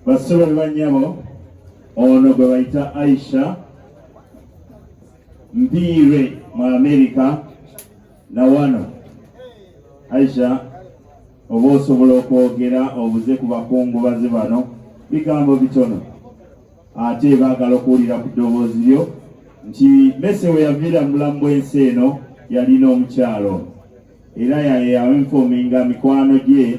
Bassebo ne bannyabo ono gwe bayita Aisha Mpiire mu Amerika na wano Aisha oba osobola okwogera obuze ku bakungubazi bano bigambo bitono ate baagala okuwulira ku ddoboozi lyo nti mese we yaviira mu bulamu bw'ensi eno yalina omukyalo era yaye yainfominga mikwano gye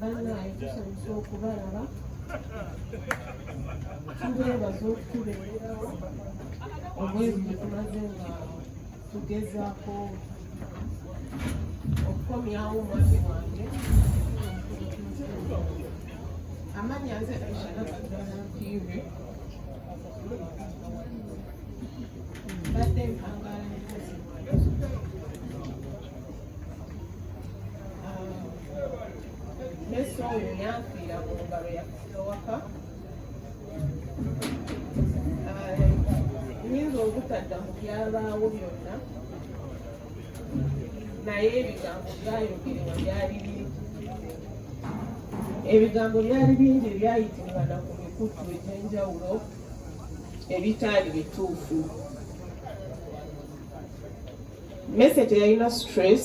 bannaaye tusanyusa okubalaba tubeebaza okutubeererawo omwezi gye tumaze nga tugezaako okukomyawo omwami wange amanya nze aishagatudanampire mbadde mpangala Yesu oyo yanfiira mu ngalo yakusiowaka nyinza obutadda mu byabaawo byonna naye ebigambo byayogerwa byali bingi ebigambo byali bingi ebyayitimbana ku mikutu egy'enjawulo ebitaali bituufu mese teyalina stress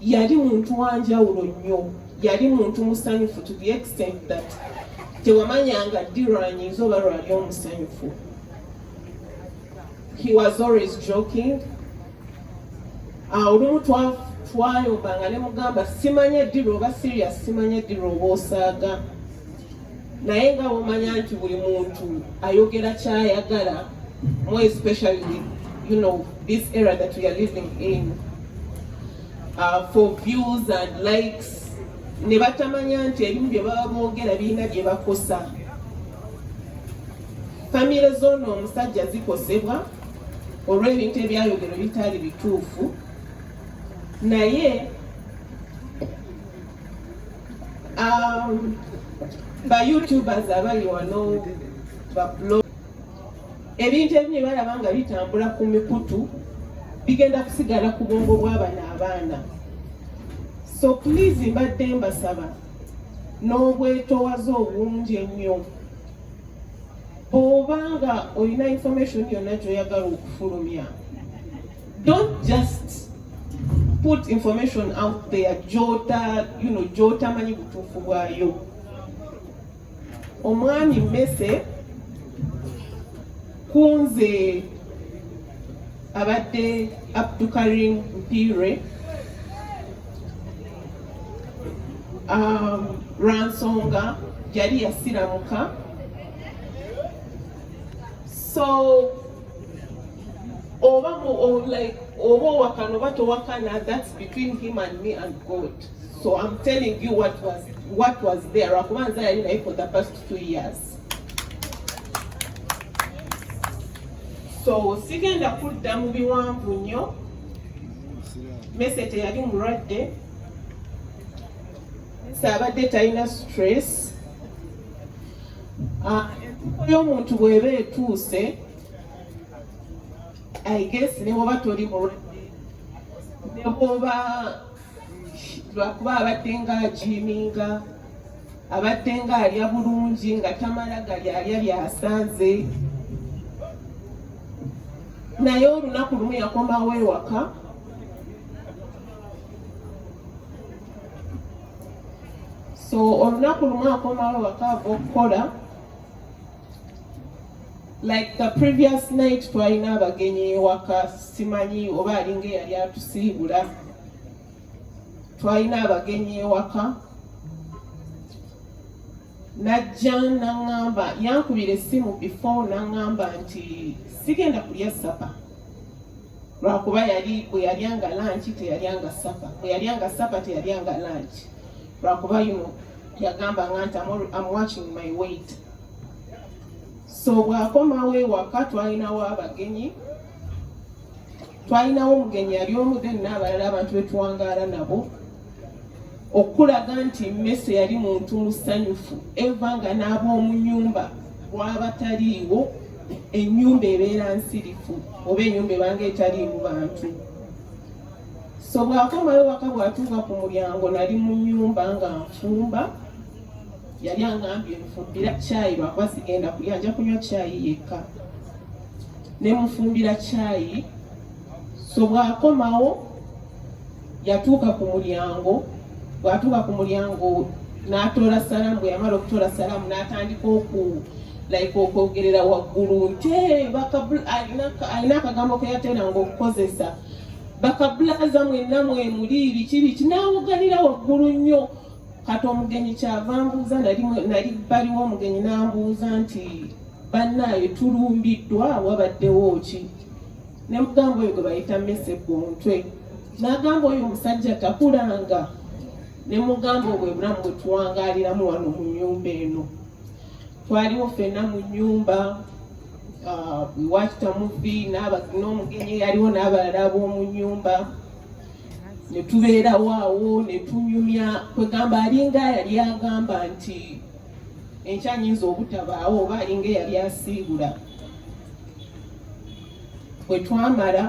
yali muntu wanjawulo nnyo yali muntu musanyufu to the extent that tewamanyanga ddi lwanyinza oba lwali omusanyufu he was always joking olumu twayombanga ne mugamba simanya ddi lwoba serious simanya ddi lwoba osaaga naye nga wamanya nti buli muntu ayogera kyayagala more especially with you know this era that we are living in uh, for views and likes ne batamanya nti ebimu bye baba boogera birina bye bakosa famire zoono omusajja zikosebwa olw'ebintu ebyayogero bitaali bituufu naye Um, ba youtubers abali wano ba blog ebintu ebimu balaba nga bitambula ku mikutu bigenda kusigala ku bwongo bw'abana abaana so please mbadde mbasaba n'obwetowaze obungi ennyo bw'oba nga olina information yonna gy'oyagala okufulumya Don't just put information out there jota you know jota manyi butuufu bwayo omwami mese kunze abadde abdukarim mpire um, lwansonga yali yasiramuka so oba like oba owakana oba towakana that's between him and me and God so I'm telling you what was what was there akuba nze yali naye for the past two years so sigenda kudda mu biwanvu nnyo mese teyali mulwadde saabadde talina stress ah, entuko y'omuntu bweba etuuse I guess ne bwoba toli mulwadde ne bwoba lwakuba abadde nga ajiiminga abadde nga alya bulungi nga tamala gali alya byasanze naye olunaku lumu yakomawo ewaka so olunaku lumu akomawo ewaka ava okukola like the previous night twalina abagenyi ewaka simanyi oba alinga eyali atusiibula twalina abagenyi ewaka najja naŋŋamba yankubira essimu before naŋŋamba nti sigenda kulya sapa lwakuba yali bwe yalyanga lanki teyalyanga sapa bwe yalyanga sapa teyalyanga lanki lwakuba yuno yagamba nga nti am watching my weight so bwakomawo ewaka twalinawo abagenyi twalinawo omugenyi yali omu then n'abalala abantu betuwangaala nabo okulaga nti mmese yali muntu musanyufu eva nga n'ab'omu nyumba bwabataliiwo enyumba ebeera nsirifu oba enyumba ebanga etaliimu bantu so bwakomayo waka bwatuuka ku mulyango nali mu nyumba nga nfumba yali angambye nfumbira caayi lwakuba sigenda kulya nja kunywa caayi yekka ne mufumbira caayi so bwakomawo yatuuka ku mulyango bwatuuka ku mulyango n'atoola salaamu bwe yamala okutoola salaamu n'atandika oku like okwogerera waggulu nti alina akagambo keyateranga okukozesa bakabulaza mwenna mwemuli biki biki n'awoganira waggulu nnyo kati omugenyi kyava mbuuza nali baliwo omugenyi nambuuza nti bannaayo tulumbiddwa wabaddewo ki ne mugamba oyo gwe bayita mese ku mutwe n'agamba oyo omusajja takulanga ne mugamba obwo ebulamu bwe tuwangaaliramu wano mu nyumba eno twaliwo ffenna mu nyumba ah, wakitamuvi n'omugenyi yaliwo n'abalala b'omu nyumba ne tubeerawo awo ne tunyumya kwegamba alinga yali agamba nti enkya nyinza obutabaawo oba alinga eyali asiibula bwe twamala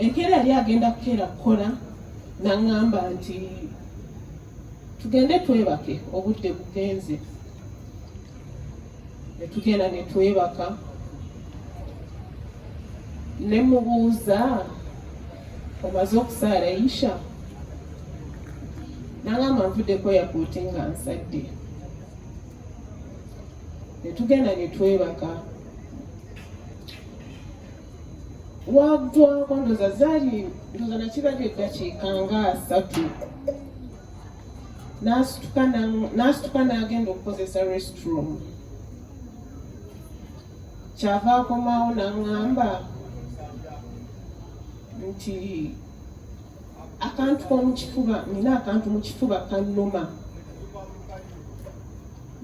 enkeera yali agenda kukeera kukola naŋŋamba nti tugende twebake obudde bugenze netugenda netwebaka nemubuuza omaze okusaala isha nangamba nvuddeko yakuuti nga nsadde netugenda netwebaka waggwa kwandoza zaali ndoza nakirabye eddakiika nga asatu n'asituka n'agenda okukozesa restroom kyava akomawo n'aŋŋamba nti akantu komukifuba nina akantu mu kifuba kannuma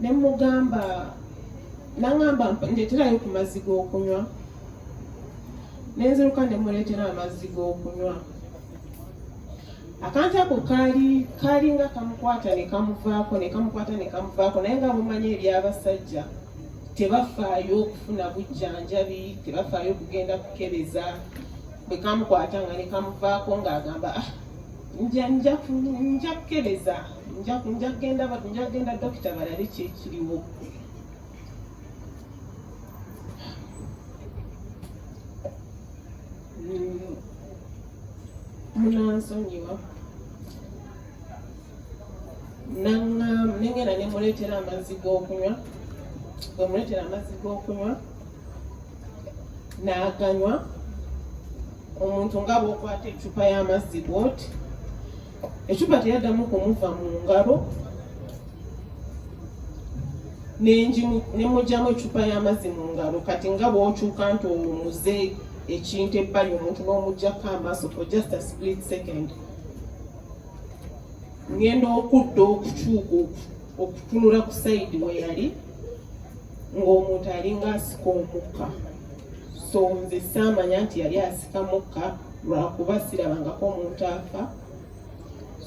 ne mugamba nangamba ndeterayo ku mazzi g'okunywa nenziruka ne muleetera amazzi g'okunywa akantu ako kaali kaalinga kamukwata ne kamuvaako ne kamukwata ne kamuvaako naye nga bumanya eby'abasajja tebafaayo okufuna bujjanjabi tebafaayo okugenda kukebeza bwe kamukwata nga ne kamuvaako ng'agamba ah nja nja nja kukebeza nja nja kugenda nja kugenda dokita balabe kyekiriwo mm. munansonyiwa nengenda nemuleetera amazzi g'okunywa bwemuleetera amazzi g'okunywa n'aganywa omuntu nga bwokwata ecupa y'amazzi bwoti ecupa teyaddamu kumuva mu ngalo nemugyamu ecupa y'amazzi mu ngalo kati nga bwokyuka nti omuze ekintu ebbali omuntu n'omugyako amaaso for just a split second ngenda okudda okukyuka okutunula ku sayidi weyali ng'omuntu alinga asika omukka so nze saamanya nti yali asika mukka lwakuba sirabangako omuntu afa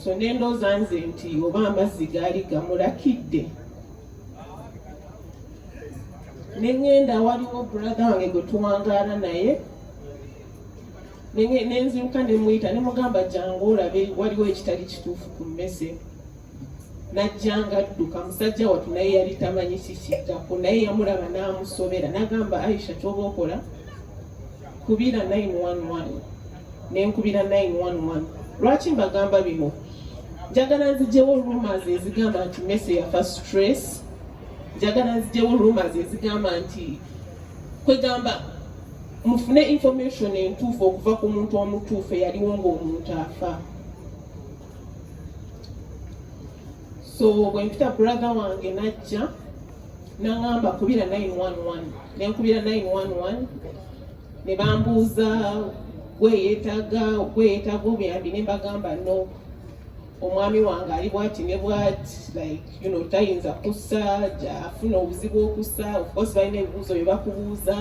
so nendooza nze nti oba amazzi gaali gamulakidde nengenda waliwo brother wange gwe tuwangaala naye nenziruka nemuyita nemugamba jangu olabe waliwo ekitali kituufu ku mmese najjanga adduka musajja watu naye yali tamanyi kikiddako naye yamulaba n'amusobera nagamba aisha kyoba okola kubira 911 nenkubira 911 lwaki mbagamba bino njagala nzijewo rumors ezigamba nti mese yafa stress njagala nzijewo rumors ezigamba nti kwegamba mufune information entuufu okuva ku muntu omutuufu eyaliwo ngaomuntu afa so bwe mpita brother wange najja nangamba kubira 911 nenkubira 911 ne bambuuza gweyetaga gweyetaga obuyambi ne mbagamba no omwami wange ali bwati ne bwati like you know tayinza kussa afuna obuzibu okussa of course balina ebibuuzo bye bakubuuza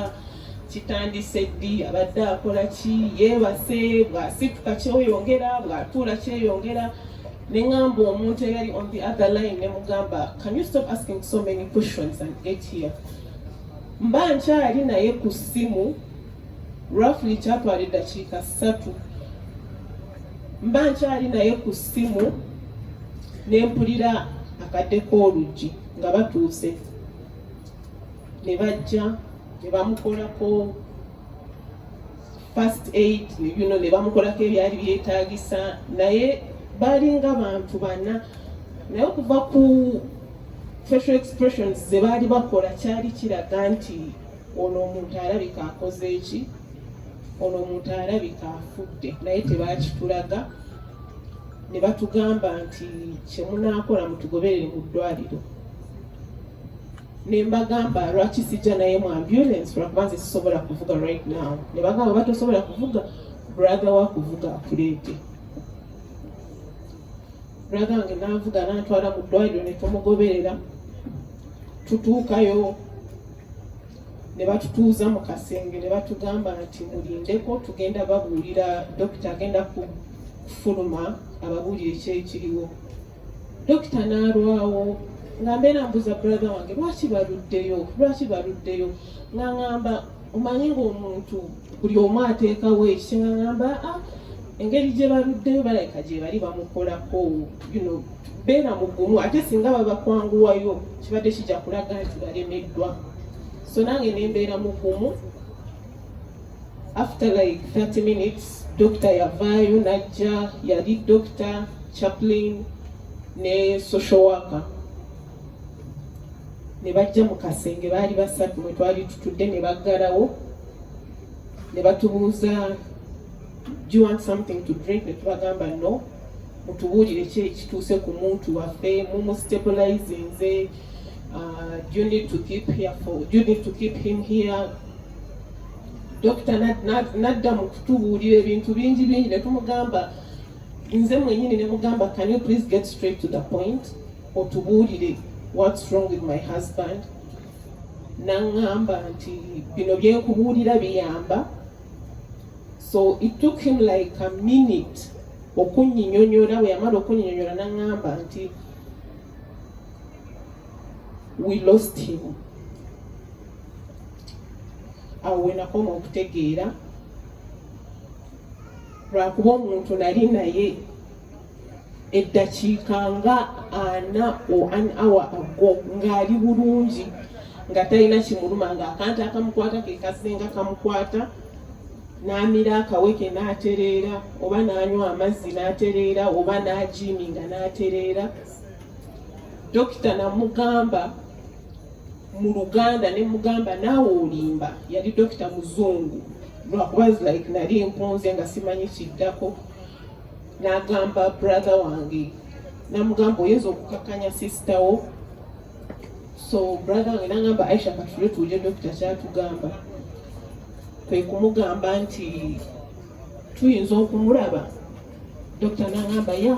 kitandise ddi abadde akola ki yeebase bw'asituka kyoyongera bw'atuula kyeyongera ne ŋamba omuntu eyali on the other line ne mugamba can you stop asking so many questions and get here mba nkyali naye ku ssimu roughly kyatwala eddakiika ssatu mba nkyali naye ku ssimu ne mpulira akadde k'oluggi nga batuuse ne bajja ne bamukolako first aid bino ne bamukolako ebyali byetaagisa naye baalinga bantu bana naye okuva ku facial expressions ze baali bakola kyali kiraga nti ono omuntu alabika akoze eki ono omuntu alabika afudde naye tebakitulaga ne batugamba nti kyemunaakola mutugoberere mu ddwaliro ne mbagamba lwaki sijja naye mu ambulance lwakuba nze sisobola kuvuga right now ne bagamba oba tosobola kuvuga brother wa kuvuga akuleete brother wange nanvuga nantwala mu ddwaliro ne tumugoberera tutuukayo ne batutuuza mu kasenge ne batugamba nti mulindeko tugenda babuulira dokita agenda kufuluma ababuulire kyekiriwo Dokita n'alwawo nga mbeera mbuza brother wange lwaki baluddeyo lwaki baluddeyo nga ngamba omanyi ng'omuntu buli omu ateekawo ekise nga ngamba a ah, engeri gye baluddeyo balabika gye bali bamukolako yuno beera mugumu ate singa babakwanguwayo kibadde kijja kulaga nti balemeddwa so nange ne mbeera mugumu after like 30 minutes dokita yavaayo najja yali dokita chaplain ne social worker ne bajja mu kasenge baali basatu mwe twali tutudde ne baggalawo ne batubuuza do you want something to drink ne tubagamba no mutubuulire ki ekituuse ku muntu waffe mumustabilizinze uh, do you need to keep here for do you need to keep him here dokita nadda mu kutubuulira ebintu bingi bingi ne tumugamba nze mwenyini ne mugamba can you please get straight to the point otubuulire what's wrong with my husband naŋŋamba nti bino byenkubuulira biyamba so it took him like a minute okunyinyonyola bwe yamala okunyinyonyola naŋŋamba nti we lost him awo wenakoma okutegeera lwakuba omuntu nali naye eddakiika nga ana o an hour ago ng'ali bulungi nga talina kimuluma nga akantu akamukwata ke kasinga kamukwata n'amira akaweke n'atereera oba n'anywa amazzi n'atereera oba n'ajiiminga n'atereera dokita namugamba mu luganda ne mugamba naawe olimba yali dokita muzungu lwakuba like nali mpunze nga simanyi kiddako nagamba brother wange namugamba oyinza okukakanya sister wo so brother wange nagamba aisha katule tuje dokita kyatugamba kwe kumugamba nti tuyinza okumulaba dokita nagamba ya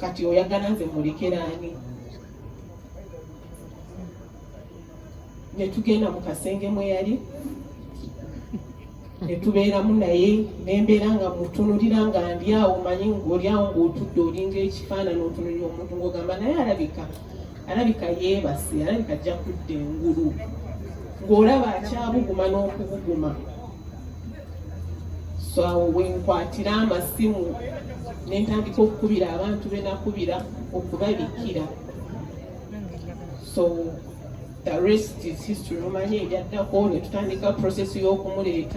kati oyagala nze mulekera ani netugenda mu kasenge mwe yali netubeeramu naye nembeera nga mutunulira nga ndyawo manyi ngaolyawo ngaotudde olinga ekifaanani otunulira omuntu ngaogamba naye alabika alabika yeebase alabika ajja kudda engulu ng'olaba akyabuguma n'okubuguma so awo wenkwatira amasimu nentandika okukubira abantu benakubira okubabikira so the rest is history mumanye ebyaddako netutandika process y'okumuleeta